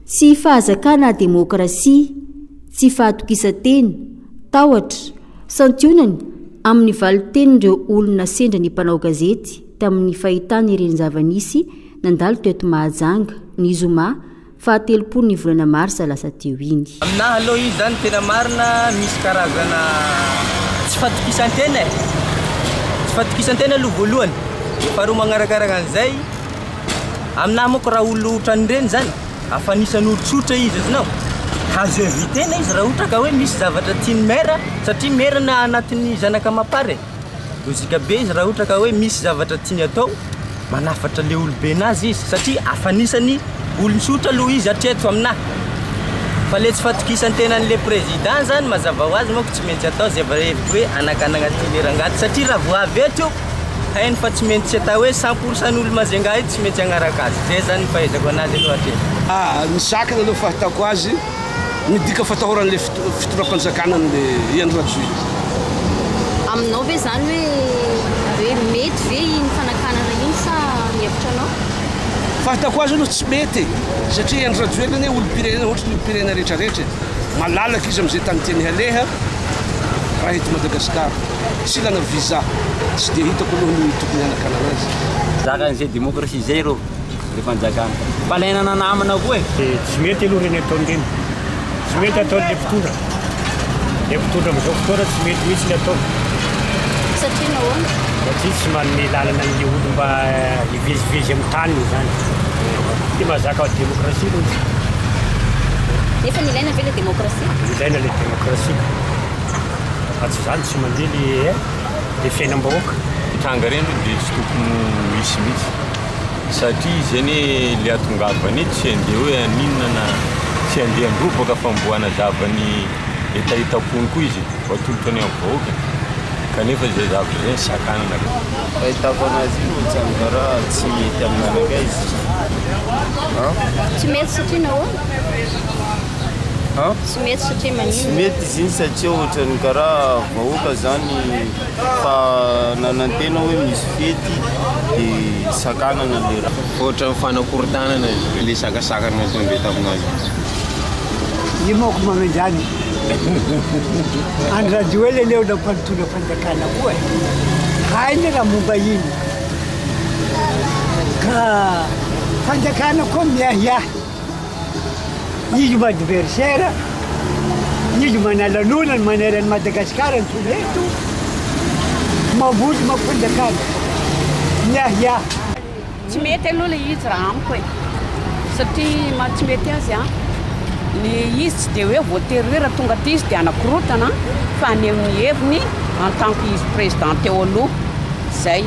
Tsy fahazakana demokrasia, tsy fahatokisan-tena, tahotra, santionany amin'ny valin-tenin'ireo olona sendra ny mpanao gazety tamin'ny fahitany ireny zava-nisy nandalo teto Mahajanga, ny zoma faha telopolin'ny volana marsa lasa teo iny. Aminahy aloha izy zany tena marina misy karazana tsy fatokisan-tena e! Tsy fatokisan-tena aloha voalohany, faharoa magnarakaraka an'izay, Aminahy manko raha olona otran'ireny zany a fa anisan'ny olo tsotra izy azonao azo inviter na izy raha ohatra ka hoe misy zavatra tian'ny maire satria maire na anatin'ny zanaka amam-para e logique be izy raha ohatra ka hoe misy zavatra tiany atao manafatra le olobe nazy izy satria afa anisan'ny olony tsotra aloha izy hatreto aminahy fa le tsy fatokisan-tenan'le président zany mazava ho azy manko tsy maintsy atao zay vao hevitry hoe anakanagna ty le rangahy ty satria raha vao avy eto io Hainy fa tsy maintsy atao hoe cent pour cent n'olo Majunga io tsy maintsy hanaraka azy. Zay zany ny fahaizako anazy aloha hatreto. Ah, ny zakany aloha fahitako azy, midika fatahoran'ilay fitondram-panjakana an'ilay Hery Rajoelina. Aminao ve zany hoe hoe mety ve iny fanakanana iny sa ny hevitra anao? Fahitako azy aloha tsy mety e, satria Hery Rajoelina anie olom-pirenena ohatry ny olom-pirenena rehetra rehetra e, malalaka izy amin'izay tany tiany haleha raha eto Madagasikara. tsy ilana visa tsy dia hitako aloha ny tokony hanakanana azy. Zaka an'izay démocratie izay reo le fanjakana. Fa laina nanamina koa e. Dia tsy mety aloha ireny ataony ireny. Tsy mety ataon'ilay mpitondra. Ilay mpitondra amin'izao fotoana tsy mety mihitsy ny ataony. Satria nahoana? Satria tsy manome lalana an'ilay olona mba hivezivezy amin'ny taniny izany. Dia mazaka démocratie aloha izy. Nefa ilaina ve ilay démocratie? Ilaina ilay démocratie. Raha tsy izany tsy mandeha le le fiainam-bahoaka. Tranga ireny aloha dia tsy tokony ho hisy mihitsy satria izy anie le atongavany eto tsy handeha hoe haninona na tsy handeha handrobaka fa mbo hanazava ny hetahetam-pony koa izy vao atolotra ny amin'ny vahoaka e! Kanefa izay zavatra izay no sakanana ka. Fahitako anazy io Tsangaraha tsy mety aminareo guys a! Tsy mety satria nahoana? Tsy mety satria maninona? Tsy mety izy iny satria ohatran'ny karaha vahoaka izany fa nanantena hoe misy fety dia sakanana ilay raha. Ohatran'ny fanakorontanana ilay sakasakana nataony be tamin'azy. Io manko manan-jany. Andry Rajoelina anie olona mpanontona fanjakana koa e. Hainy raha momba iny. Ka fanjakana koa miahiahy. Izy no adversaire, izy no manalanona ny maneran'i Madagascar ny Soveto, mamboly mampanjakana, miahiahy. Tsy mety aloha ilay izy raha amiko e, satria maha tsy mety azy an, ny izy tsy dia hoe voatery hoe raha tonga aty izy dia hanakorontana fa haneho ny heviny en tant que izy président teo aloha, zay.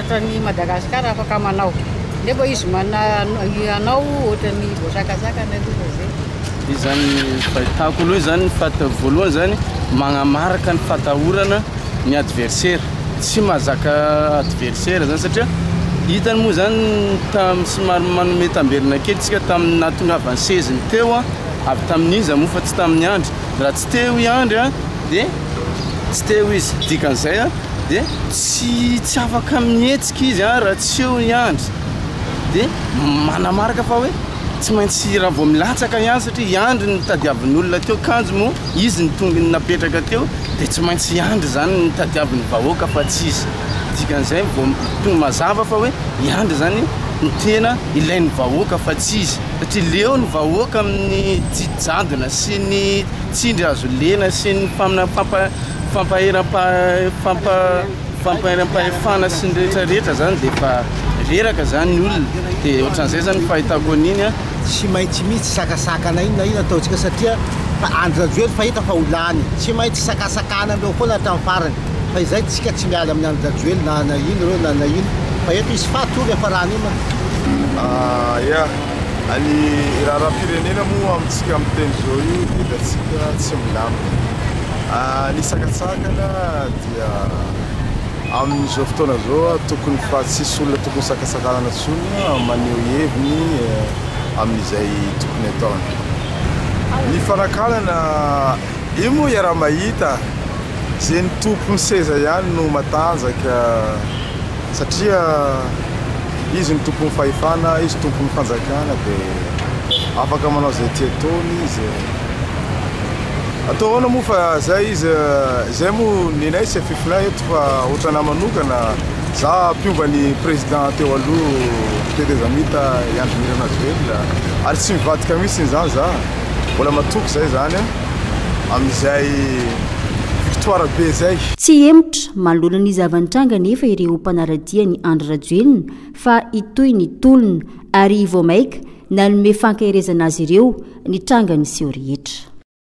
Ohatran'ny Madagascar afaka manao. Nefa izy mana hanao ohatran'ny voasakasakana aloha fa zay. Izy zany fahitako aloha izany fat voalohany zany magnamaraka ny fatahorana ny adversaire. Tsy mahazaka adversaire zany satria hitany moa zany tam somary manome tamberina kely tsika tamin'ny nahatongavan'ny seziny teo a avy tamin'iza moa fa tsy tamin'ny andry. Raha tsy teo i andry a de tsy teo izy. Dikan'izay a. dia tsy tsy afaka mihetsika izy a raha tsy eo i Andry dia manamarika fa hoe tsy maintsy raha vao milatsaka i Andry satria i Andry no tadiavin'olona teo kanjo moa izy ny tongony napetraka teo dia tsy maintsy i Andry izany no tadiavin'ny vahoaka fa tsy izy dikan'izay vao tonga mazava fa hoe i Andry izany ny tena ilain'ny vahoaka fa tsy izy satria leo ny vahoaka amin'ny tsy jadona sy ny tsindry azo lena sy ny mpaminany fampaheram-pahefana sy ny rehetra rehetra zany dia efa reraka zany ny olona dia ohatran'izay zany fahitako an'iny an tsy maintsy misy tsy sakasakana inona inona ataontsika satria Andry Rajoelina fa hita fa ho lany tsy maintsy sakasakana aminy eo foana hatramin'ny farany fa izay tsika tsy miala amin'ny Andry Rajoelina na na ino ireo na na ino fa eto izy faty hono efa raha an'inona ah ya any raharaha-pirenena moa amintsika amin'ny teny izao io dia hitantsika tsy milamina Ny sakatsakana dia amin'izao fotoana izao tokony fa tsisy olona tokony sakatsakanana intsony maneho heviny amin'izay tokony ataony. Ny fanakanana io moa iaraha-mahita izay ny tompon'ny seza ihany no matanjaka satria izy no tompon'ny fahefana, izy tompon'ny fanjakana dia afaka manao izay tia ataony izy. Atao ahoana moa fa zay izy zay moa nenay sy fiflay eto fa ohatranà manokana za mpiomba ny président teo aloha tetezamita i Andry Nirina Rajoelina ary tsy mivadika mihitsy izany za mbola matoky zay zany a amin'izay victoire be zay Tsy hemotra, manoloana ny zava-nitranga anefa ireo mpanara-dia an'i Andry Rajoelina fa hitohy ny tolona ary vao maika Nanome fankaherezana azy ireo ny tranga niseho rehetra.